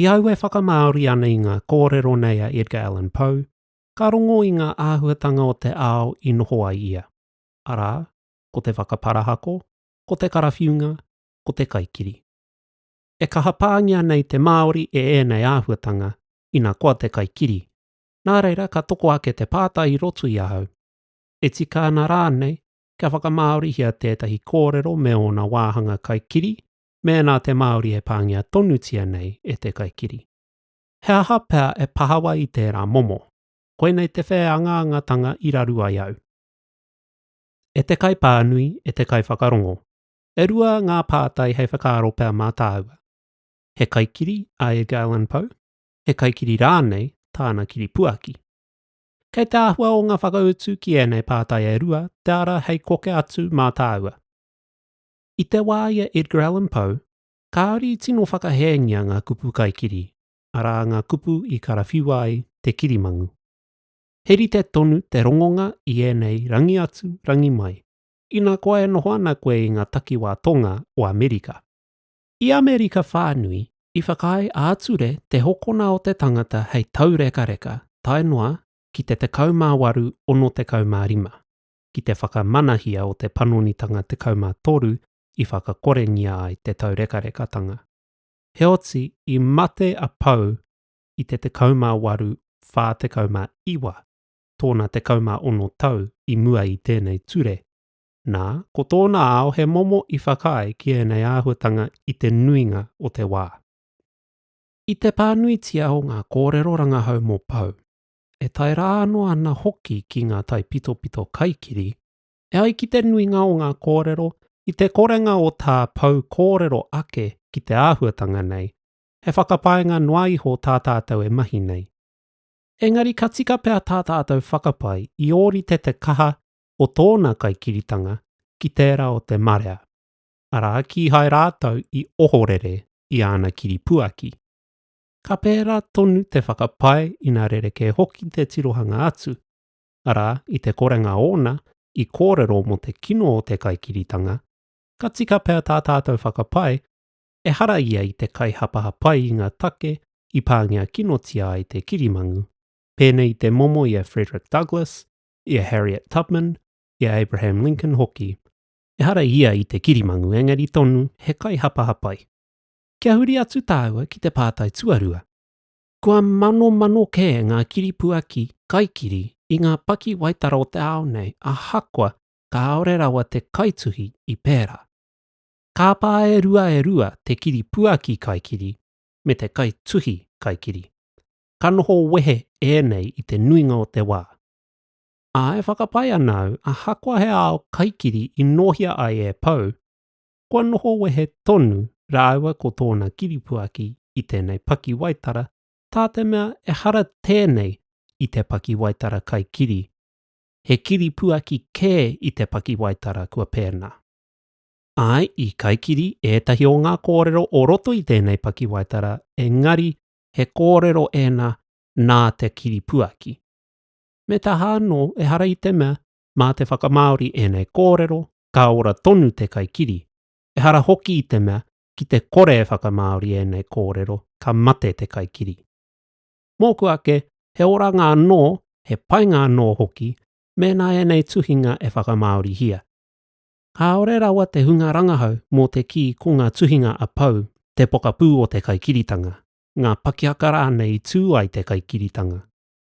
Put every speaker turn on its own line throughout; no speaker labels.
I au e whakamāori ana i ngā kōrero nei a Edgar Allan Poe, ka rongo i ngā āhuatanga o te ao i noho ai ia, arā, ko te whakaparahako, ko te karawhiunga, ko te kaikiri. E kaha pāngia nei te Māori e ēnei āhuatanga, ina koa te kaikiri. Nā reira, ka toko ake te pātai i roto i ahau, e tika ana rānei kia whakamāorihia tētahi kōrero me ōna wāhanga kaikiri, mēnā te Māori e pāngia tonutia nei e te kaikiri. He aha pea e pahawa i tērā momo? Koinei te whēangaangatanga i raru ai au. E te kaipānui, e te kaiwhakarongo, e rua ngā pātai hei whakaaro pea mā tāua. He kaikiri a Edgar Allan Poe? He kaikiri rānei tāna kiripuaki? Kei te āhua o ngā whakautu ki ēnei pātai e rua te ara hei koke atu mā tāua. I te wā i a Edgar Allan Poe, kāore i tino whakahēngia ngā kupu kaikiri, arā ngā kupu i karawhiua ai te kirimangu. He rite tonu te rongonga i ēnei rangi atu, rangi mai, ina koa e noho ana koe i ngā takiwā tonga o Amerika. I Amerika whānui, i whakaae ā-ture te hokona o te tangata hei taurekareka tae noa ki te 18, 65. ki te whakamanahia o te panonitanga 13 i whakakorengia ai te taurekarekatanga. Heoti, i mate a Pou i te 18 49, tōna 16 tau i mua i tēnei ture, nā, ko tōna ao he momo i whakaae ki ēnei āhuatanga i te nuinga o te wā. I te pānuitia o ngā kōrero rangahau mō Pou, e tae rā anō ana hoki ki ngā taipitopito kaikiri, e ai ki te nuinga o ngā kōrero i te korenga o tā Pou kōrero ake ki te āhuatanga nei, he whakapaenga noa iho tā tātou e mahi nei. Engari ka tika pea tā tātou whakapae i ōrite te kaha o tōna kaikiritanga ki tērā o te marea, arā, kīhai rātou i ohorere i āna kiripuaki. ka pērā tonu te whakapae ina rerekē hoki te tirohanga atu, arā, i te korenga ōna i kōrero mō te kino o te kaikiritanga, ka tika pea tā tātou whakapae, ehara ia i te kaihapahapai i ngā take i pāngia kinotia ai te kirimangu, pēnei i te momo i a Frederick Douglass, i a Harriet Tubman, i a Abraham Lincoln hoki. Ehara ia i te kirimangu, engari tonu he kaihapahapai. kia huri atu tāua ki te pātai tuarua. Kua manomano kē ngā kiripuaki kaikiri i ngā pakiwaitara o te ao nei ahakoa kāore rawa te kaituhi i pērā. Kāpā e rua e rua te kiripuaki kaikiri me te kaituhi kaikiri. Ka noho wehe ēnei i te nuinga o te wā. Ā, e whakapae ana au ahakoa he ao kaikiri i nōhia ai e Pou, kua noho wehe tonu rāua ko tōna kiripuaki i tēnei pakiwaitara, tā te mea ehara tēnei i te pakiwaitara kai kiri, he kiripuaki kē i te pakiwaitara kua pēnā. Āe, i kai kiri ētahi o ngā kōrero o roto i tēnei pakiwaitara, engari he kōrero ēnā nā te kiripuaki. Me taha anō, ehara i te mea mā te whakamāori ēnei kōrero, ka ora tonu te kaikiri, ehara hoki i te mea ki te kore e whakamāori ēnei kōrero ka mate te kaikiri. Mōku ake, he oranga anō, he painga anō hoki mēnā ēnei tuhinga e whakamāorihia. Kāore rawa te hunga rangahau mō te kī ko ngā tuhinga a Pou te pokapū o te kaikiritanga, ngā pakiaka rānei i tū ai te kaikiritanga,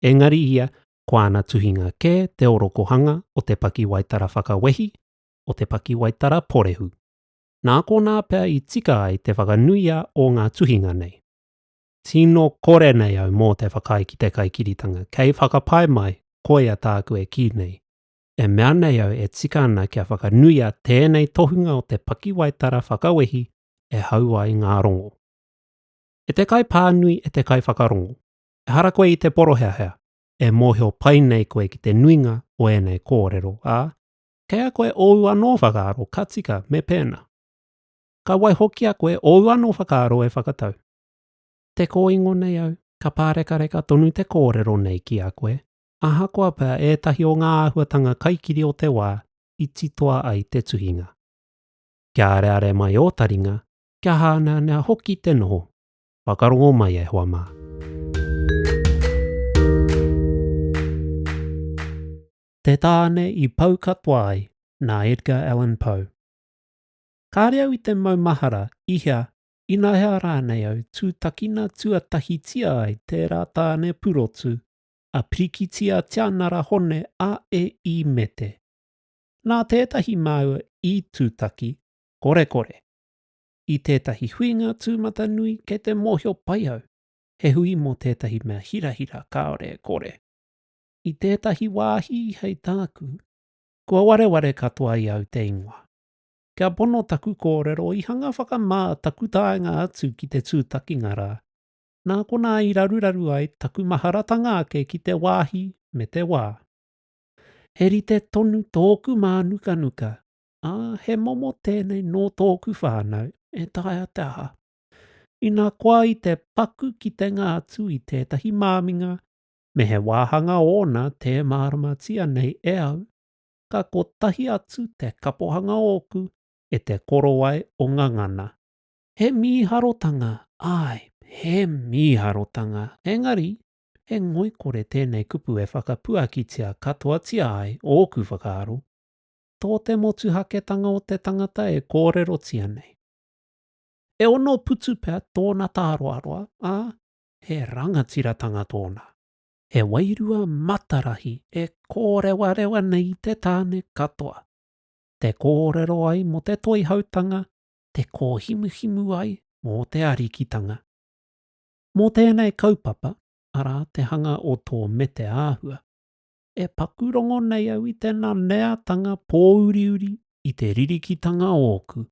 engari ia ko āna tuhinga kē te orokohanga o te pakiwaitara whakawehi, o te pakiwaitara porehu. Nā konā pea i tika ai te whakanuia o ngā tuhinga nei. Tino kore nei au mō te whakaae ki te kaikiritanga, kei whakapae mai, koia tāku e kī nei. E mea nei au e tika ana kia whakanuia tēnei tohunga o te pakiwaitara whakawehi e hau ai ngā rongo. E te kaipānui e te kaiwhakarongo, Ehara koe i te poroheahea, e mōhio pai nei koe ki te nuinga o ēnei kōrero, ā, kei a koe ōu anō whakaaro ka tika me pēnā. Ka waihokia koe ōu anō whakaaro e whakatau. Te kōingo nei au, ka pārekareka tonu te kōrero nei ki a koe, ahakoa pea ētahi o ngā āhuatanga kaikiri o te wā i titoa ai te tuhinga. Kia areare mai ō taringa, kia hāneanea hoki te noho. Whakarongo mai e hoa mā. Te Tāne i pau katoa ai nā Edgar Allan Poe. Kāre au i te maumahara i hea, inahea rānei au tūtakina tuatahitia ai tērā tāne purotu a Pirikiti a Tianara Hone a e i Mete. Nā tētahi māua i tūtaki, korekore. i tētahi huinga tūmatanui kei te mōhio pai au, he hui mō tētahi mea hirahira kāore e kore. I tētahi wāhi hei tāku, kua wareware katoa i au te ingoa. Kia pono taku kōrero i hanga whakamā taku taenga atu ki te tūtakinga rā, nā konā i raruraru ai taku maharatanga ake ki te wāhi me te wā. He rite tonu tōku mānukanuka ā, he momo tēnei nō tōku whānau, e taea te aha. Ina koa i te paku kitenga atu i tētahi māminga, me he wāhanga ōna tē māramatia nei e au, ka kotahi atu te kapohanga ōku e te korowai o Ngangana. He mīharotanga, āe, he mīharotanga, engari, he ngoikore tēnei kupu e whakapuakitia katoatia ai ōku whakaaro. tō te motuhaketanga o te tangata e kōrerotia nei. E ono putu pea tōna tāroaroa, ā, he rangatiratanga tōna. He wairua matarahi e kōrewarewa nei i te tāne katoa. Te kōrero ai mō te toihautanga, te kōhimuhimu ai mō te arikitanga. Mō tēnei kaupapa, arā te hanga o tō mete āhua, E paku rongo nei au i tena neatanga pōuriuri i te ririkitanga ōku.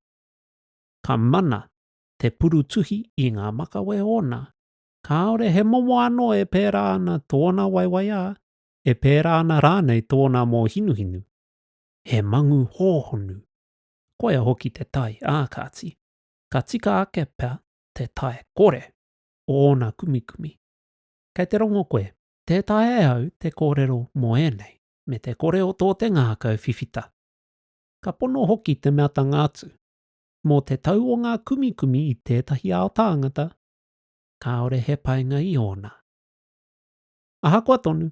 Ka mana te purutuhi i ngā makawe ōna, kāore he momo anō e pērā ana tōna waiwaiā, e pērā ana rānei tōna mōhinuhinu. He mangu hōhonu. Koia hoki te tae, ā kāti, ka tika ake pea te tae kore o ōna kumikumi. Kei te rongo koe, Tē taea e au te kōrero mō ēnei, me te kore o tō te ngākau whiwhita. Ka pono hoki te meatanga atu, mō te tau o ngā kumikumi i tētahi ao tāngata, kāore he painga i ōna. Ahakoa tonu,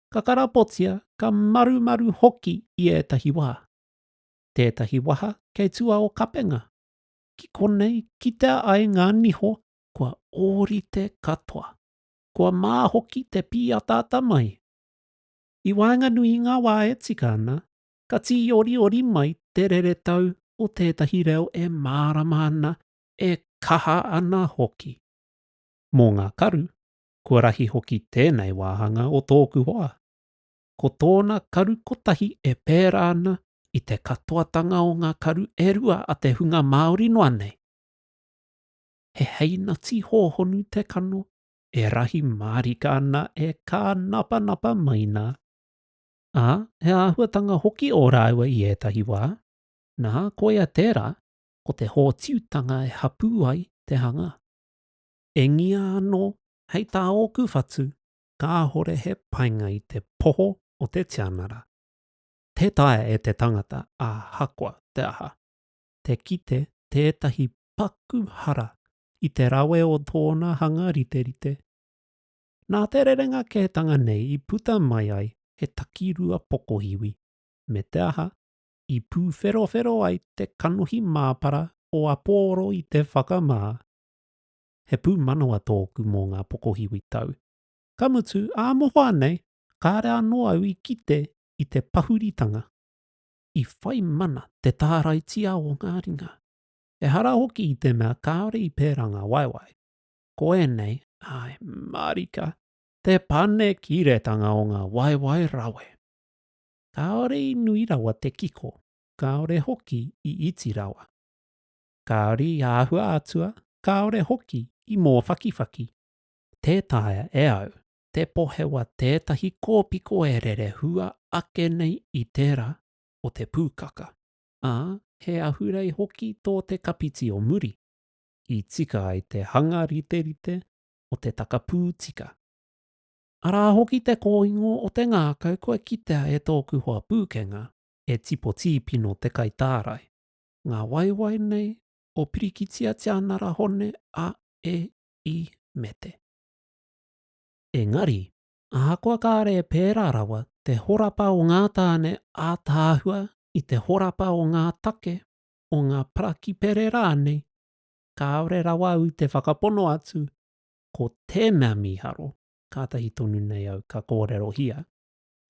ka karapotia, ka marumaru hoki i ētahi wā. Tētahi waha kei tua o Kapenga, ki konei kitea ai ngā niho kua ōrite katoa. Kua mā hoki te pīataata mai. I waenganui i ngā wā e tika ana, ka tīoriori mai te reretau o tētahi reo e mārama ana, e kaha ana hoki. Mō ngā karu, kua rahi hoki tēnei wāhanga o tōku hoa. Ko tōna karu kotahi e pērā ana i te katoatanga o ngā karu e rua a te hunga Māori noa nei. he heinati hōhonu te kano, e rahi mārika ana e kā napanapa mai nā, ā, he āhuatanga hoki ō rāua i ētahi wā, nā, koia tērā, ko te hōtiutanga e hapū ai te hanga. Engia anō, hei tā ōku whatu, kāhore he painga i te poho o te tianara. Tē taea e te tangata āhakoa te aha, te kite tētahi paku hara i te rawe o tōna hanga riterite. Nā te rerenga kētanga nei i puta mai ai he takirua pokohiwi, me te aha, i pūwherowhero ai te kanohi māpara o Apōro i te whakamā. He pūmanawa tōku mō ngā pokohiwi tau, ka mutu, ā mohoa nei, kāre anō au i kite i te pahuritanga. I whai mana te tāraitia o ngā ringa, Ehara hoki i te mea kāore i pērā ngā waewae. Ko ēnei, āe, mārika, te panekiretanga o ngā waewae rawe. Kāore i nui rawa te kiko, kāore hoki i iti rawa. Kāore i āhua atua, kāore hoki i mōwhakiwhaki. Tē taea e au te pohewa tētahi kōpiko e rere hua ake nei i tērā o te pūkaka. ā, he ahurei hoki tō te kapiti o muri, i tika ai te hanga riterite o te takapū tika. Arā hoki te kōingo o te ngākau kua kitea e tōku hoa pūkenga, e Tipo Tīpino Te Kaitārai, ngā waewae nei o Pirikitia Tianara Hone a E. I. Mete. Engari, Ahakoa kāre e pērā rawa te horapa o ngā tāne ātaahua i te horapa o ngā take o ngā parakipere rānei, kāore rawa au i te whakapono atu, ko tēnā mīharo, kātahi tonu nei au ka kōrerohia,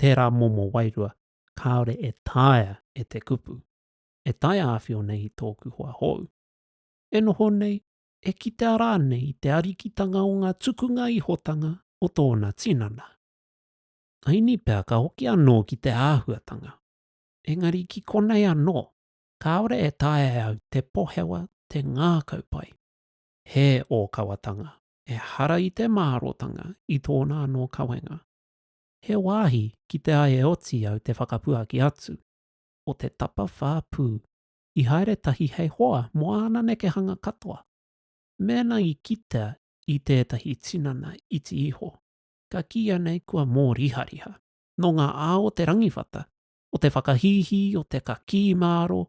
tērā momo wairua kāore e taea e te kupu, e taea awhio nei i tōku hoa hou. E noho nei, e kitea rānei i te arikitanga o ngā tukunga ihotanga o tōna tinana. Āini pea ka hoki anō ki te āhuatanga, engari ki konei anō, kāore e taea e au te pohewa te ngākau pai. He ōkawatanga, ehara i te mārōtanga i tōna anō kawenga. He wāhi kite ai e oti au te whakapuaki atu, o te tapawhā pū, i haere tahi hei hoa mō āna nekehanga katoa. Mēnā i kitea i tētahi tinana iti iho, ka kīia nei kua mōrihariha. Nō ngā ao o te rangiwhata, o te whakahīhī, o te kakī māro,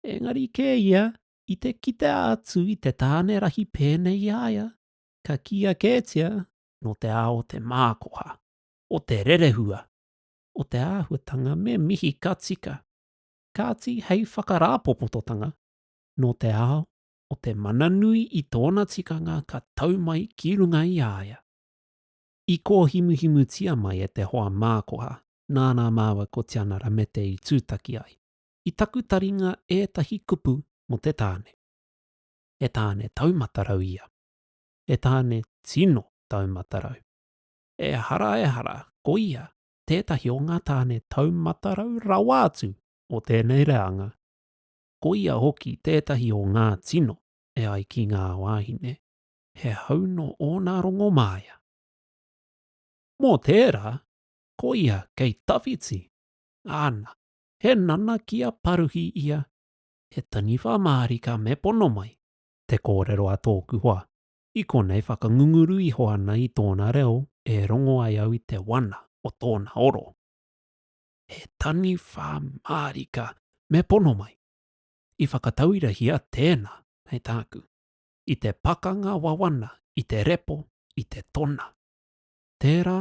engari kē ia i te kitea atu i te tāne rahi pēnei i a ia, ka kīia kētia nō te ao o te mākoha, o te rerehua, o te āhuatanga me mihi ka tika. kāti hei whakarāpopototanga nō te ao o te mana nui i tōna tikanga ka tau mai ki runga i a ia. I kōhimuhimutia mai e te hoa mākoha nāna māua ko Tiana Ramete i tūtaki ai, i taku taringa ētahi kupu mō te tāne. He tāne taumatarau ia. He tāne tino taumatarau. Ehara ehara, ko ia, tētahi o ngā tāne taumatarau rawa atu o tēnei reanga, ko ia hoki tētahi o ngā tino e ai ki ngā wāhine, he hau nō ōna rongomāia. Mō tērā, ko ia kei tawhiti, āna, he nana ki a Paruhi ia, he taniwha mārika me pono mai, te kōrero a tōku hoa, I konei whakangunguru iho ana i tōna reo e rongo ai au i te wana o tōna oro. He taniwha mārika me pono mai. I whakatauirahia tēnā, hei tāku, i te pakanga wawana i te repo i te tona. Tērā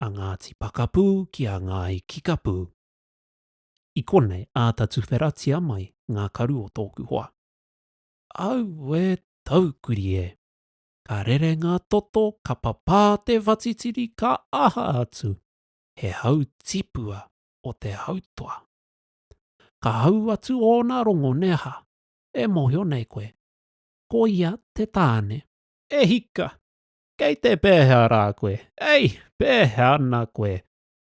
a Ngāti Pakapū ki a Ngāi Kikapū. I konei āta tuwheratia mai ngā karu o tōku hoa. Aue taukuri e! Ka rere ngā toto, ka papā te whatitiri, ka aha atu, he hau tipua o te hautoa. Ka hau atu ōna rongo nē ha? E mōhio nei koe, ko ia te tāne. E hika! Kei te pēhea rā koe? Ei, pēhea ana koe?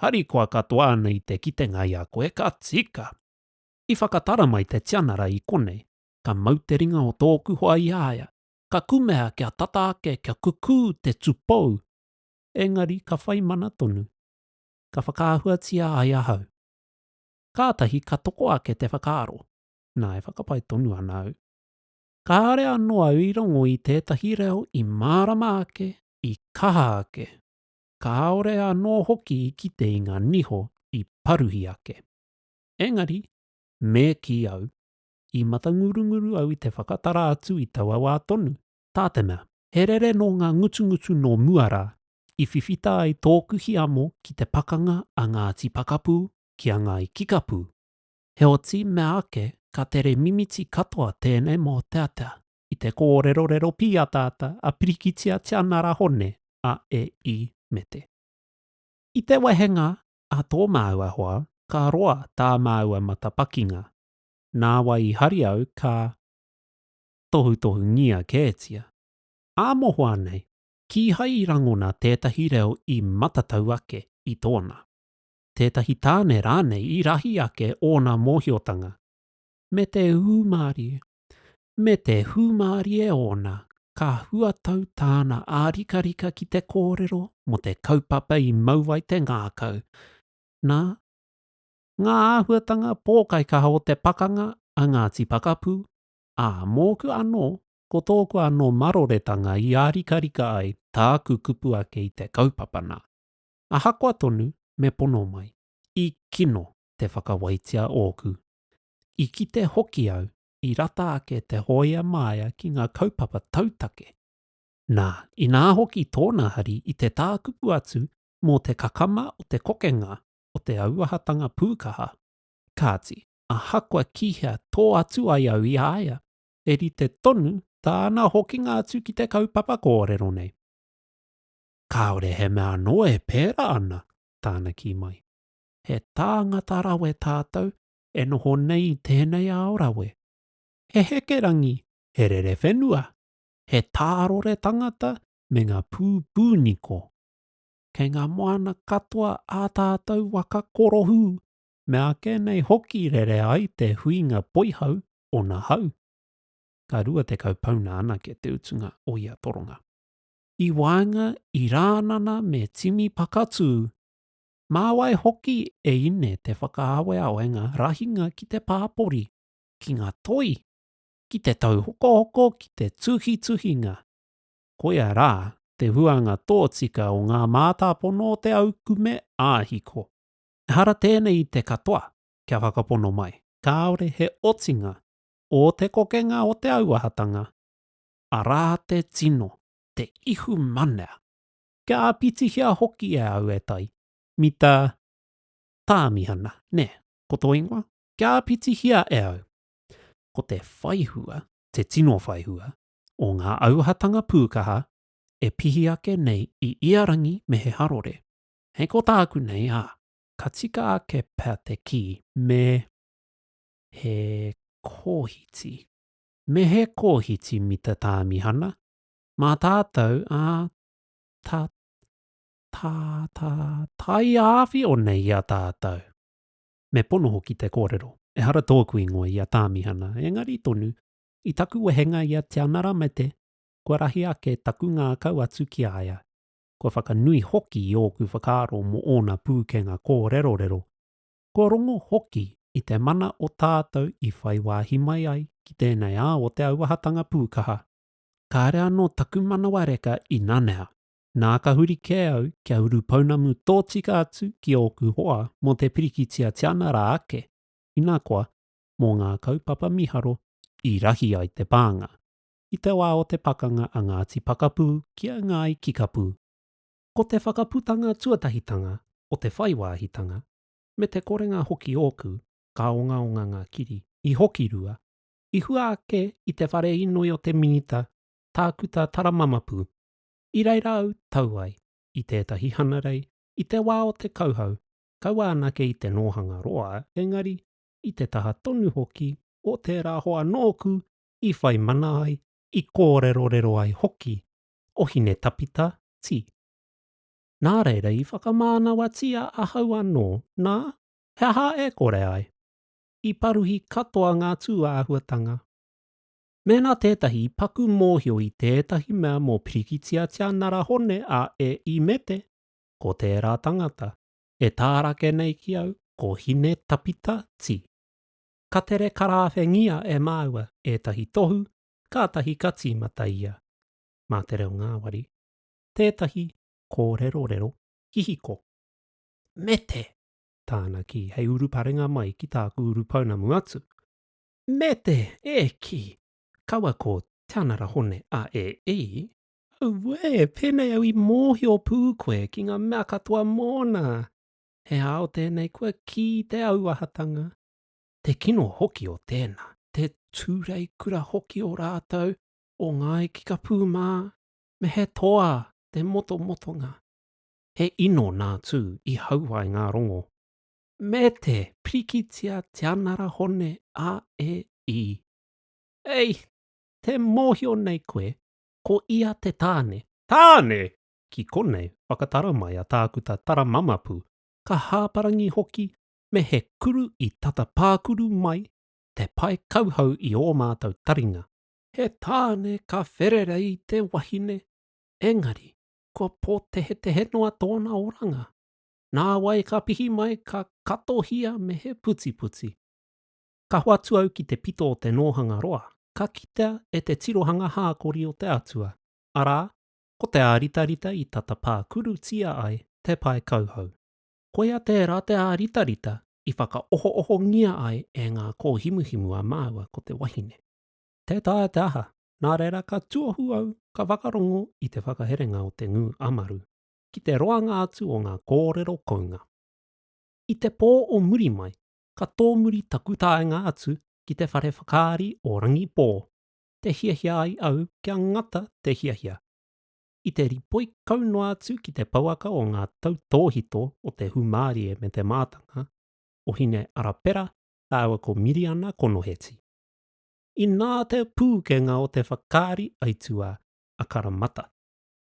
Harikoa katoa ana i te kitenga i a koe, ka tika! I whakatara mai te tianara i konei, ka mau te ringa o tōku hoa i a ia, ka kumea kia tata ake kia kukū te tupou, engari ka whai mana tonu. Ka whakaahuatia ai ahau. Kātahi ka toko ake te whakaaro, nā e whakapae tonu ana au. Kāore anō au i rongo i tētahi reo i mārama ake, i kaha ake, kāore anō hoki i kite i ngā niho i paruhi ake. Engari, me kī au, I matangurunguru au i te whakatara atu i taua wā tonu. Tā te mea, he rere nō ngā ngutungutu nō mua rā, i whiwhita ai tōku hiamo ki te pakanga a Ngāti Pakapū ki a Ngāi Kikapū. Heoti, mea ake, ka tere mimiti katoa tēnei mōteatea. I te kōrerorero pīataata a Pirikitia Tianara Hone, a E. I. me te. I te wehenga a tō māua hoa, ka roa tā māua matapakinga. nāwai i hari au ka tohutohungia kētia. Ā mohoa nei, kīhai i rangona tētahi reo i matatau ake i tōna. Tētahi tāne rānei i rahi ake ōna mōhiotanga, me te hūmārie, me te hūmārie ōna, ka huatau tāna ārikarika ki te kōrero mō te kaupapa i mau ai te ngākau, nā, ngā āhuatanga pōkaikaha o te pakanga a Ngāti Pakapu, ā, mōku anō, ko tōku anō maroretanga i ārikarika ai tāku kupu ake i te kaupapa nā. Ahakoa tonu me pono mai, i kino te whakawaitia ōku. I kite hoki au i rata ake te hōia māia ki ngā kaupapa tautake. Nā, inā hoki tōna hari i te tākupu atu mō te kakama o te kokenga o te auahatanga pūkaha. Kāti, ahakoa ki hea tō atu ai au i a ia, he rite tonu tāna hokinga atu ki te kaupapa kōrero nei. Kāore he mea anō e pērā ana, tāna kī mai. He tāngata rawe tātou e noho nei i tēnei ao rawe. He hekerangi, he rerewhenua, he tārore tangata me ngā pūpūniko. kei ngā moana katoa ā tātou waka korohū, mea ake nei hoki rere ai te huinga poihau o nā hau. Ka rua tekau pauna anake te utunga o ia toronga. I waenga i Rānana me Timi Pakatū, mā wai hoki e ine te whakaaweawe ngā rahinga ki te pāpori, ki ngā toi, ki te tauhokohoko ki te tuhituhinga? koia rā te huanga tōtika o ngā mātāpono o te aukume ā-hiko. Ehara tēnei i te katoa kia whakapono mai, kāore he otinga o te kokenga o te auahatanga, arā te tino, te ihu manea. Kia āpitihia hoki e au e tai, mita Tāmihana, nē, ko tō ingoa? Kia āpitihia e au, ko te whaihua, te tino whaihua, o ngā auahatanga pūkaha e pihi ake nei i ia rangi me he harore. Hei ko tāku nei, ā, ka tika ake pea te kī me he kōhiti. Me he kōhiti mita tāmihana, mā tātou, ā, ta, ta, ta, taiāwhio nei i a tātou. Me pono hoki te kōrero, ehara tōku ingoa i a Tāmihana, engari tonu, I taku wehenga i a Te Anara Mete, kua rahi ake taku ngākau atu ki a ia, kua whakanui hoki i ōku whakaaro mō ōna pūkenga kōrerorero, kua rongo hoki i te mana o tātou i whai wāhi mai ai ki tēnei ao o te auahatanga pūkaha. Kāre anō taku manawa reka i nanea, nā ka huri kē au kia uru pounamu tōtika atu ki ōku hoa mō te pirikitia Te Anara ake, ina koa, mō ngā kaupapa miharo i rahi ai te pānga, i te wā o te pakanga a Ngāti Pakapū ki a Ngāi Kikapū. Ko te whakaputanga tuatahitanga o te whai wāhitanga, me te korenga hoki ōku, ka ongaonga ngā kiri. I hoki rua, i hua ake i te whare inoi o te Minita Tākuta Taramamapū, i reira au tau ai i tētahi hanarei i te wā o te kauhau, kaua anake i te nōhanga roa, engari i te taha tonu hoki o tērā hoa nōku i whai mana ai, i kōrerorero ai hoki, o Hinetapita Ti. Nā reira i whakamānawatia ahau anō, nā, he aha e kore ai? I paruhi katoa ngā tūāhuatanga. Mēnā tētahi i paku mōhio i tētahi mea mō Pirikitia Tianara Hone a E. Imete, ko tērā tangata. e tārake nei ki au ko Hine Tapita Ti. Ka tere karāwhengia e māua ētahi tohu kātahi ka tīmata ia. Mā te reo ngāwari tētahi kōrerorero hihiko. Mete! tāna kī hei uruparenga mai ki tāku urupounamu atu. Mete! E kī! Kaua ko Te Anara Hone a e i! Auē, pēnei au i mōhio pū koe ki ngā mea katoa mōna. He ao tēnei kua kī te auahatanga. Te kino hoki o tēnā, te tūrei kura hoki o rātou, o Ngāi Kikapū mā, me he toa te motomotonga. He ino nā Tū i hau ai ngā rongo. Me te pirikitia tianara hone a e i. Ei, tē mōhio nei koe Ko ia te tāne. Tāne! Ki konei, whakatara mai a Tākuta Taramamapu, ka hāparangi hoki me he kuru i tata pākuru mai te pae kauhau i ō mātou taringa. He tāne ka whererei te wahine, engari, kua pōtehetehe noa tōna oranga. Nāwai ka pihi mai ka katohia me he putiputi. Ka hoatu au ki te pito o te nōhanga roa, ka kitea e te tirohanga hākori o te Atua, arā, ko te āritarita i tata pākurutia ai te pae kauhau. Koia tērā te āritarita i whakaohoohongia ai e ngā kōhimuhimu a māua ko te wahine. Tē taea te aha, nā reira ka tuohu au ka whakarongo i te whakaherenga o te ngū amaru ki te roanga atu o ngā kōrero kounga. I te pō o muri mai, ka tōmuri taku taenga atu ki te whare whakaari o Rangipō, te hiahia ai au kia ngata te hiahia. I te ripoi kau noa atu ki te pouaka o ngā tautōhito o te hūmārie me te mātanga o Hine-Arapera rāua ko Miriana Konoheti. Inā te pūkenga o te whakaari aituā a Karamata,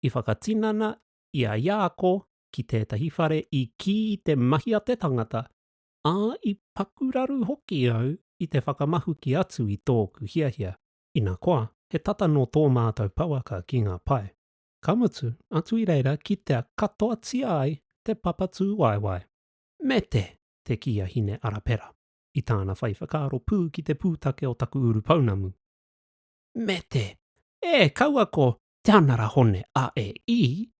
i whakatinana i a Iāko ki tētahi whare i kī i te mahi a te tangata ā, i paku raru hoki au i te whakamahuki atu i tōku hiahia, ina koa, he tata nō tō mātou pouaka ki ngā pae, ka mutu atu i reira kitea katoatia ai te papa tūwaewae. Mete! te kī a Hine Arapera, i tāna whai whakaaro pū ki te pūtake o taku urupounamu. Mete! E, kaua ko Te Anara Hone a e i!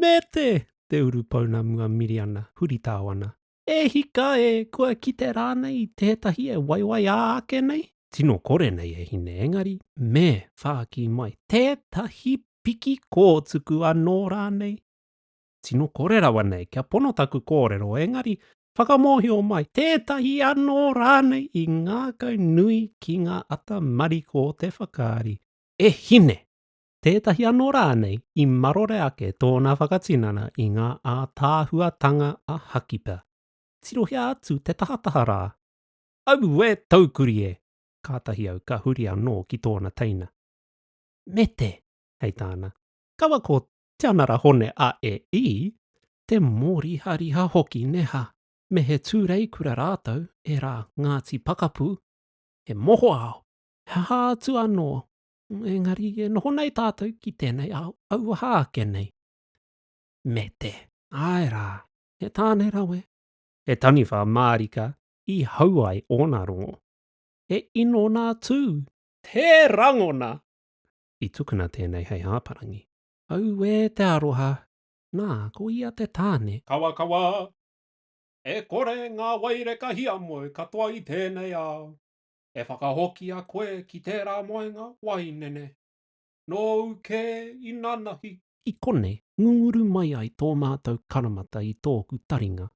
Mete! te urupounamu a Miriana, huritao ana, E hika e, kua kite rānei i tētahi e waiwai ā ake nei? Tino kore nei e hine engari me whāki mai tētahi piki kōtuku anō rānei? Tino kore rawa nei kia pono taku kōrero engari whakamōhio mai tētahi anō rānei i ngākau nui ki ngā ata mariko o te whakaari. E hine! tētahi anō rānei i marore ake tōna whakatinana i ngā ātaahuatanga a Hakipa. Tirohia atu te tahataha rā! Aue! Taukuri e! Kātahi au ka huri anō ki tōna teina. Mete! hei tāna. Kaua ko Tianara Hone a e i! Te mōrihariha hoki neha! Me he tūreikura rātou, e rā, Ngāti Pakapu! He mohoao! He aha atu anō Engari e noho nei tātou ki tēnei ao auaha ake nei. Me te. Āe rā, he tāne rawe. He taniwha mārika i hau ai ōna rongo. He inona tū. He rangona! I tukuna tēnei hei hāparangi. Auē te aroha! Nā, ko ia te tāne. Kawakawa. E kore ngā waireka hiamoe katoa i tēnei ao. E whakahokia koe ki tērā moenga wainene. Nōu kē inanahi. I konei, ngunguru mai ai tō mātou karamata i tōku taringa,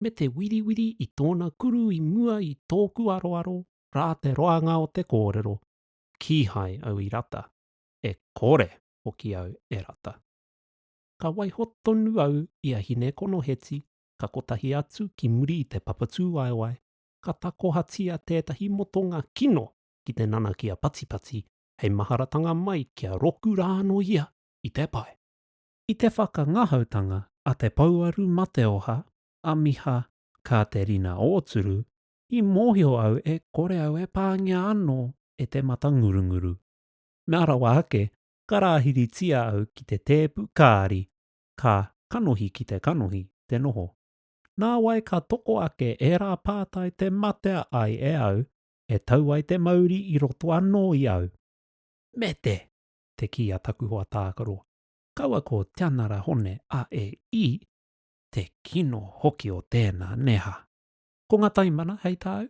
me te wiriwiri i tōna kuru i mua i tōku aroaro rā te roanga o te kōrero, kīhai au i rata, e kore hoki au e rata. Ka waiho tonu au i a Hinekonoheti ka kotahi atu ki muri i te papatūwaewae, ka takohatia tētahi motonga kino ki te nanakia patipati hei maharatanga mai kia roku rānō ia i te pae. I te whakangahautanga a Te Pouaru Mateoha, a Miha Kāterina Ōturu, i mōhio au e kore au e pāngia anō e te mata ngurunguru. Mea rawa ake, ka rāhiritia au ki te tēpu kāri, ka kanohi ki te kanohi te noho. Nāwai ka toko ake ērā pātai te matea ai e au, e tau ai te mauri i roto anō i au. Mete! te kī a taku hoa tākaro, kaua ko Tianara Hone a e i, te kino hoki o tēnā neha. Ko ngā taimana hei tāu?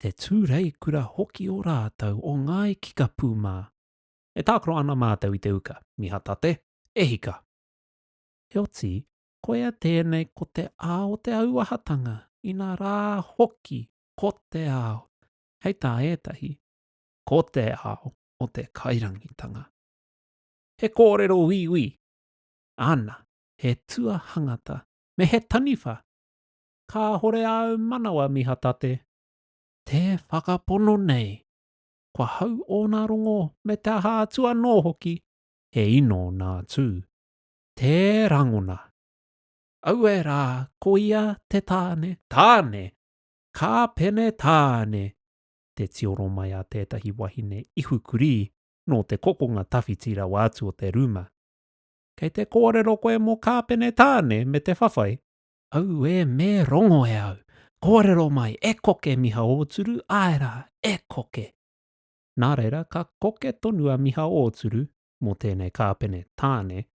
Te tūreikura hoki o rātou o Ngāi Kikapū mā. E tākaro ana mātou i te uka, Mihatate, e hika! Heoti, Koia tēnei ko te ao o te auahatanga, inā rā hoki ko te ao, hei tā ētahi, ko te ao o te kairangitanga. He kōrero uiui, ana, he tua hangata, me he taniwha, kāhore āu manawa mihatate. Tē whakapono nei, kua hau ōna rongo me te aha atu anō hoki, he ino nā Tū. Te rangona. Aue rā, ko ia te tāne. Tāne! Kā pene tāne! Te tioro mai a tētahi wahine ihu kurī nō te kokonga tawhiti rawa atu o te rūma. Kei te kōrero koe mō kā pene tāne me te whawhai? Aue me rongo e au! Kōrero mai, e koke Miha Ōturu, āe rā, e koke! Nā reira, ka koke tonu a Miha Ōturu, mō tēnei kāpene tāne,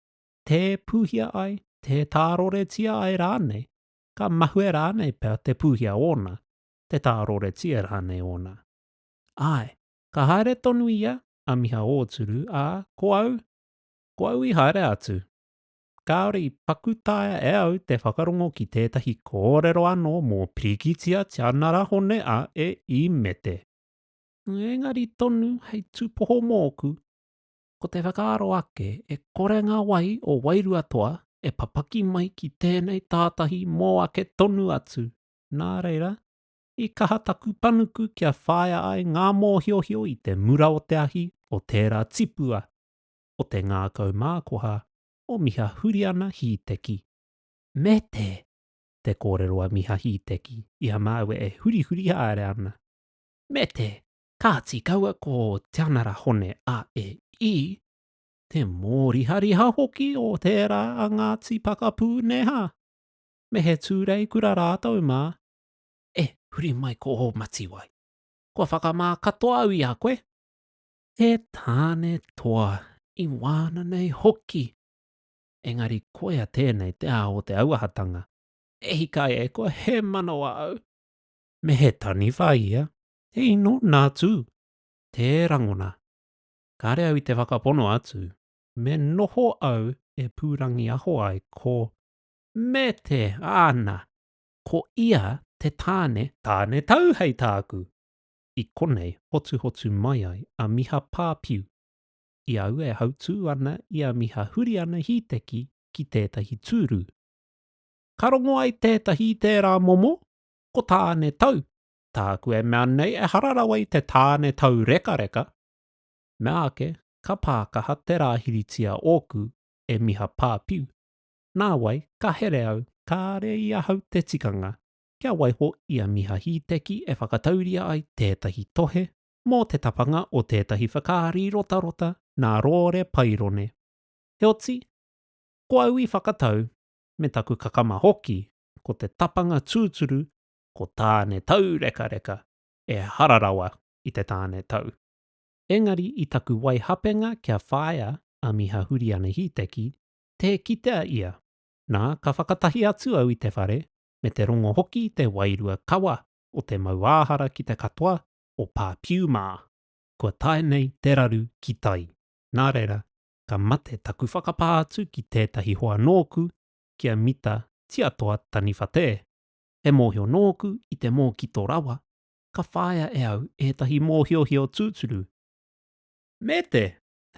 tē pūhia ai, tē tāroretia ai rānei, ka mahue rānei pea te pūhia ōna, te tāroretia rānei ōna. Āe, ka haere tonu ia, a Miha Ōturu, ā, ko au, ko au i haere atu. Kāore i paku taea e au te whakarongo ki tētahi kōrero anō mō Pirikitia Tianarahone a E. I. Mete. Engari tonu hei tūpoho mōku, Ko te whakaaro ake, e kore ngā wai o Wairuatoa e papaki mai ki tēnei tātahi mō ake tonu atu, nā reira, i kaha taku panuku kia whāia ai ngā mōhiohio i te mura o te ahi o tērā tipua o te ngākau mākoha o Miha Huriana Hīteki, me te te kōrero a Miha Hīteki i a māua e hurihuri haere ana, me te Kāti kaua ko Te Anara Hone a e i, te mōrihariha hoki o tērā a Ngāti Pakapū neha, me he tūreikura rātou mā, e huri mai ko ō matiwai. Kua whakamā katoa au i a koe. He tāne toa i wāna nei hoki, engari koia tēnei te ao o te auahatanga. E hika e koe he manawa au, me he taniwha ia, He ino nā tū, tē rangona. Kāre au i te whakapono atu, me noho au e pūrangiaho ai ko Me te, āna, ko ia te tāne, tāne tau hei tāku, i konei hotuhotu mai ai a Miha Pāpiu, i aua e hautū ana i a Miha Huriana Hīteki ki tētahi tūru. Ka rongo ai tētahi i tērā momo, ko tāne tau, Tāku e mea nei ehara rawa i te tāne taurekareka, mea ake ka pākaha te rāhiritia ōku e Miha Pāpiu, nāwai ka here au kāre i ahau te tikanga kia waiho i a Miha Hīteki e whakatauria ai tētahi tohe mō te tapanga o tētahi whakaari rotarota nā Rōre Pairone. Heoti, ko au i whakatau, me taku kakama hoki, ko te tapanga tūturu ko Tāne Tau Rekareka e hara rawa i te tāne tau. Engari i taku waihapenga kia whāia a Miha Huriana Hīteki, tē kitea ia, nā, ka whakatahi atu au i te whare, me te rongo hoki te wairua kawa o te mauāhara ki te katoa o Pāpiu mā. Kua tae nei te raru ki tai. Nā reira, ka mate taku whakapā atu ki tētahi hoa nōku ki a Mita Tiatoa Taniwha Te. He mōhio nōku i te mōkito rawa ka whāia e au ētahi mōhiohio tūturu. Me te,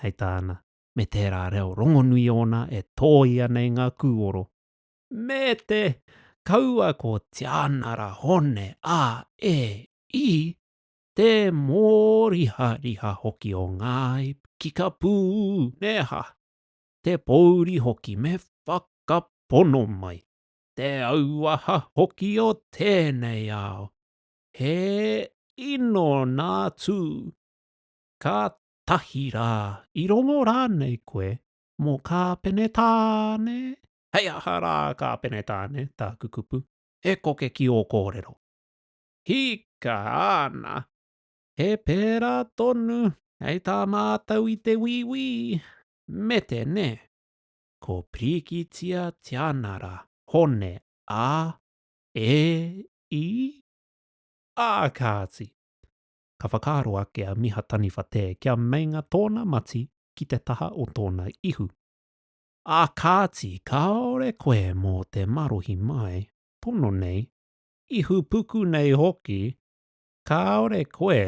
hei tāna, me tērā reo rongonui ōna e tōia nei ngā kūoro. Me te, kaua ko Tianara Hone a e i, te mōrihariha hoki o Ngāi Kikapū, nē hā? Te pōuri hoki me whakapono mai. te auaha hoki o tēnei ao, he ino nā tū, ka tahi rā, i rongo rānei koe mō Kāpenetāne? Hei aha rā Kāpenetāne, tāku kupu, e koke ki ō kōrero. Hika ana, he pērā tonu hei tā mātou i te wīwī, mete nē. ko Pirikitia Tianara Hone a e i a kāti, ka whakaaro ake a Miha Taniwhatē kia meinga tōna mati ki te taha o tōna ihu. A kāti kāore koe mō te marohi mai, pono nei, ihupuku nei hoki, kāore koe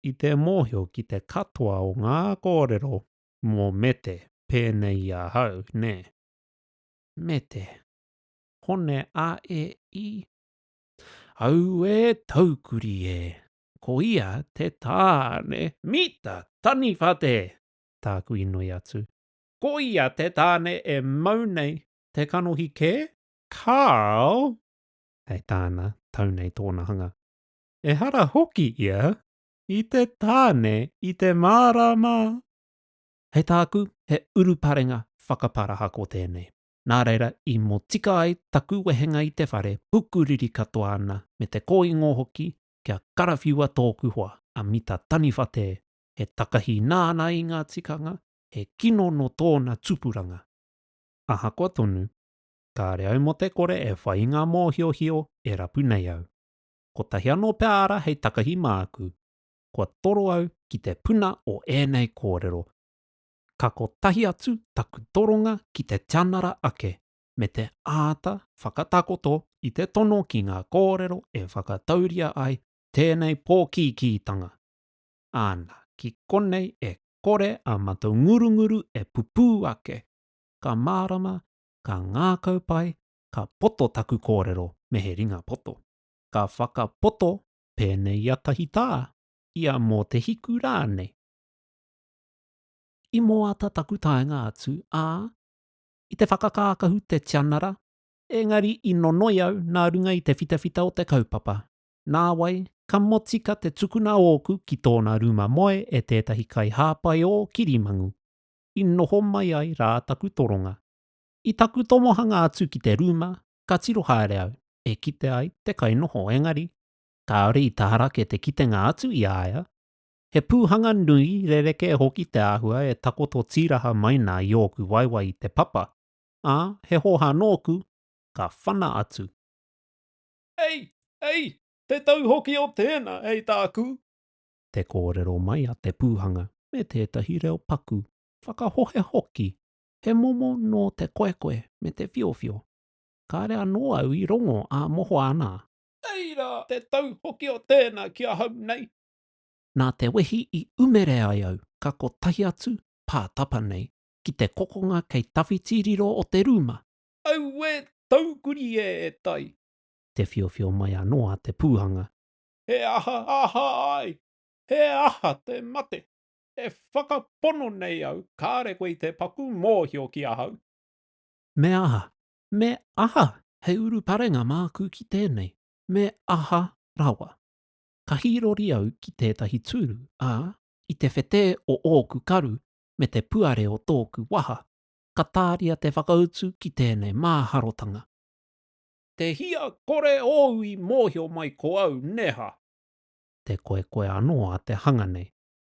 i te mōhio ki te katoa o ngā kōrero mō Mete pēnei i ahau, nē. Mete. Hone a e i. Auē taukuri e! Ko ia te tāne. Mita! Taniwha te! Tāku i noi atu. Ko ia te tāne e mau nei te kanohi kē? Karl! Hei tāna, tau nei tōna hanga. Ehara hoki ia! I te tāne i te mārama. Hei tāku, he uruparenga whakaparahako tēnei. Nā reira, i motika ai taku wehenga i te whare, pukuriri katoa ana, me te kōingo hoki, kia karawhiua tōku hoa, a Mita Taniwha Te, he takahi nāna i ngā tikanga, he kino nō tōna tupuranga. Ahakoa tonu, kāre au mō te kore e whai i ngā mōhiohio e rapu nei au. kotahi anō pea ara hei takahi māku. Kua toro au ki te puna o ēnei kōrero. Ka kotahi atu taku toronga ki te tianara ake, me te āta whakatakoto i te tono ki ngā kōrero e whakatauria ai tēnei pōkīkītanga. Āna, ki konei e kore a matou ngurunguru e pupū ake, ka mārama, ka ngākau pai, ka poto taku kōrero me he ringa poto. Ka whakapoto pēnei ia tahi tā, ia mō te hiku rānei. I moata taku taenga atu, ā, i te whakakākahu te tianara, engari i nonoi au nā runga i te whitawhita o te kaupapa. Nāwai, ka motika te tukuna ōku ki tōna rūma moe e tētahi kaihāpai ō kirimangu. I noho mai ai rā taku toronga. I taku tomohanga atu ki te rūma, ka tiro haere au, e kite ai te kainoho engari, kāore i taharake te kitenga atu i a ia. He pūhanga nui rerekē hoki te āhua e takoto tīraha mai nā i ōku waewae i te papa, ā, he hōhā nōku, ka whana atu. Ei! Ei! Te tau hoki o tēnā, hei tāku! Te kōrero mai a te pūhanga me tētahi reo paku, whakahohe hoki, He momo nō te koekoe me te whiowhio. Kāre anō au i rongo ā mohoa ana. Nei rā te tau hoki o tēnā ki ahau nei. Nā te wehi i umere ai au ka kotahi atu, pā tapa nei, ki te kokonga kei tawhiti riro o te rūma. Auē taukuri e tai! Te whiowhio mai anō a Te Pūhanga. He aha aha ai? He aha te mate? E whakapono nei au, kāre koe i te paku mōhio ki ahau. Me aha, me aha he uruparenga māku ki tēnei, me aha rawa? Ka hīrori au ki tētahi tūru, ā, i te whetē o ōku karu me te puare o tōku waha, ka tāria te whakautu ki tēnei māharotanga. Te hia kore ōu i mōhio mai ko au, neha? Te koekoe anō a te hanga nei,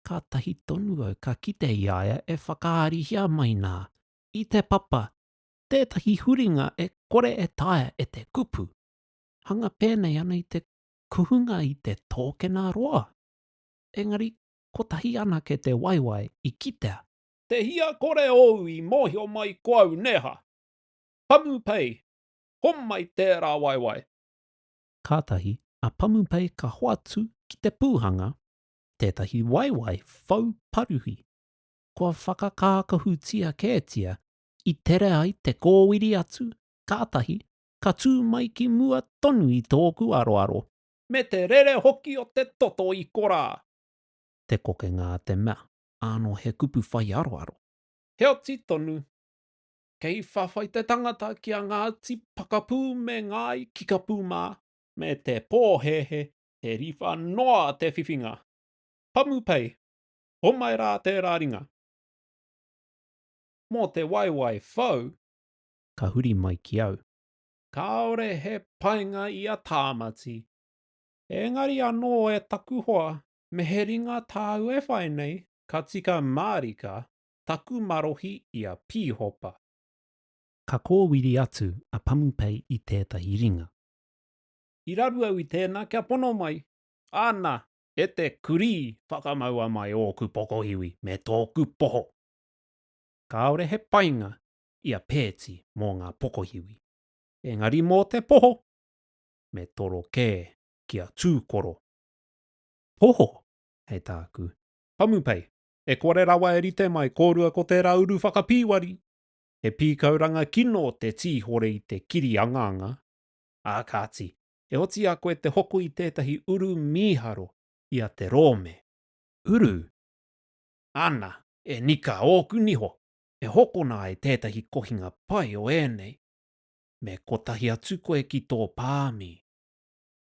kātahi tonu au ka kite i a ia e whakaarihia mai nā, i te papa, tētahi huringa e kore e taea e te kupu, hanga pēnei ana i te kuhunga i te tōkena roa. Engari, kotahi anake te waewae i kitea. Te hia kore ōu i mōhio mai ko au, nēha? Pamupei, homai tērā waewae. Kātahi a Pamupei ka hoatu ki te pūhanga, tētahi waewae whau paruhi, kua whakakākahutia kētia i tere ai te kōwiri atu, kātahi ka tū mai ki mua tonu i tōku aroaro. Me te rere hoki o te toto i korā! Te kokenga a te mea, ānō he kupu whai aroaro. Heoti tonu, kei whawhai te tangata ki a Ngāti Pakapū me Ngāi Kikapū mā, me te pōhēhē He riwha noa te whiwhinga. Pamu pei, homai rā tērā ringa. Mō te waewae whau. Ka huri mai ki au. Kāore he painga i a Tāmati. Engari anō e taku hoa, me he ringa tāu e whai nei, ka tika mārika taku marohi i a Pīhopa. Ka kōwiri atu a Pamu pei i tētahi ringa. I raru au i tēnā kia pono mai. Ana, e te kurī, whakamaua mai ōku pokohiwi me tōku poho. Kāore he painga i a Pēti mō ngā pokohiwi. Engari mō te poho, me toro kē ki a Tūkoro. Poho, hei tāku. Pamupei, e kore rawa e rite mai kōrua ko tērā uru whakapīwari. He pīkauranga kino te tīhore i te kiri angaanga. ā kāti, e oti i a koe te hoko i tētahi uru mīharo i a te rōme. Uru? Ana, e Nika, ōku niho, e hokona ai tētahi kohinga pai o ēnei. Me kotahi atu koe ki tō pāmi.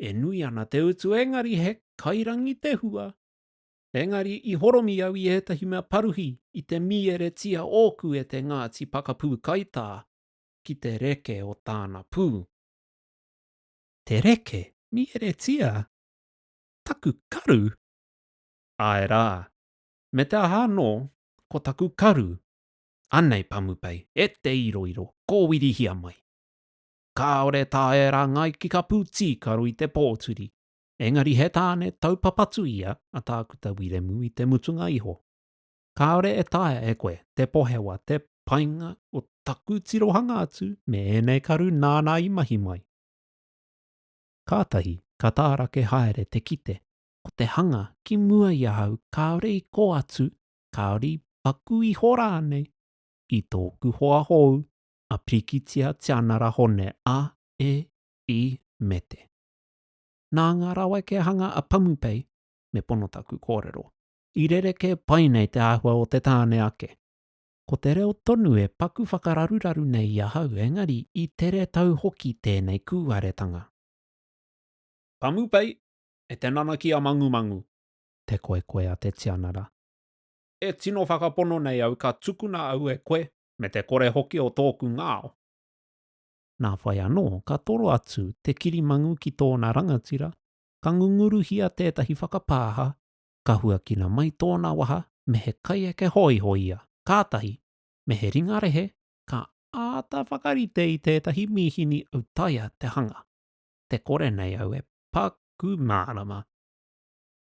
E nui ana te utu engari he kairangi te hua. Engari i horomi au i ētahi mea paruhi i te mīeretia ōku e te Ngāti Pakapū Kaitā, ki te reke o tāna pū. Te reke? Mīheretia? Taku karu? Āe rā. Me te aha anō, ko taku karu. Anei Pamupei, e te iroiro, kōwirihia mai. Kāore tā e rāngai ki ka pūtīkaro i te pōturi, engari he tāne taupapatu ia a Tākuta Wiremu i te mutunga iho. Kāore e taea e koe te pohewa te painga o taku tirohanga atu me ēnei karu nāna i mahi mai. Kātahi ka tārake haere te kite ko te hanga ki mua i ahau kāore i kō atu, kāore i paku iho rānei i tōku hoa hou a Pikitia Tianara Hone a e i me te. Nā ngā raweke hanga a Pamupei me pono taku kōrero. I rerekē pai nei te āhua o te tāne ake. Ko te reo tonu e paku whakararuraru nei i ahau engari i tere tau hoki tēnei kūaretanga. Kamupei, e te nanaki a Mangumangu. Te koekoe a te tianara. E tino whakapono nei au ka tukuna au e koe me te kore hoki o tōku ngao. Nā whai anō, ka toro atu te kirimangu ki tōna rangatira, ka ngunguruhia tētahi whakapāha ka huakina mai tōna waha me he kaieke hōiho ia, kātahi, me he ringa rehe, ka āta whakarite i tētahi mīhini autaia te hanga, te kore nei au e paku mārama.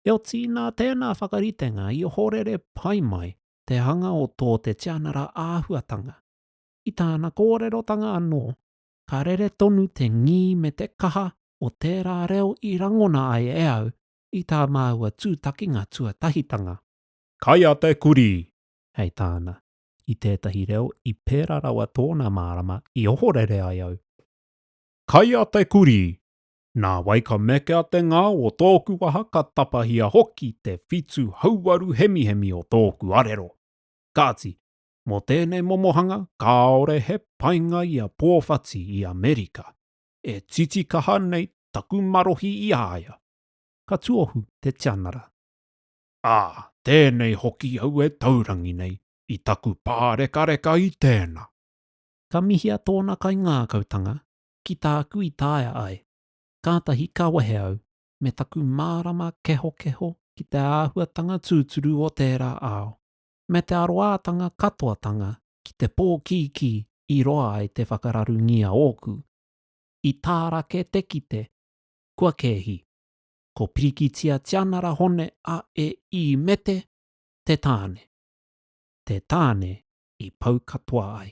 Heoti nā tēnā whakaritenga i ohorere pai mai te hanga o tō te tianara āhuatanga. I tāna kōrerotanga anō, ka rere tonu te ngī me te kaha o tērā reo i rangona ai e au i tā māua tūtakinga tuatahitanga. Kai a te kurī! Hei tāna, i tētahi reo i pērā rawa tōna mārama i ohorere ai au. Kai a te kurī! Nā wai ka meke a te ngā o tōku waha ka tapahia hoki te whitu hauwaru hemihemi o tōku arero. Kāti, mō tēnei momohanga kāore he painga i a Pōwhati i Amerika. E titikaha nei taku marohi i a ia. Ka tuohu te tianara. Ā, tēnei hoki au e taurangi nei i taku pārekareka i tēnā. Ka mihia tōna kaingākautanga ki tāku i taea ai. Kātahi ka wehe au me taku mārama kehokeho ki te āhuatanga tūturu o tērā ao. me te aroātanga katoatanga ki te pōkīkī i roa ai te whakararungia ōku, i tārake te kite, kua kēhi, ko Pirikitia Tianara Hone a e i Mete te tāne, te tāne i pau katoa ai.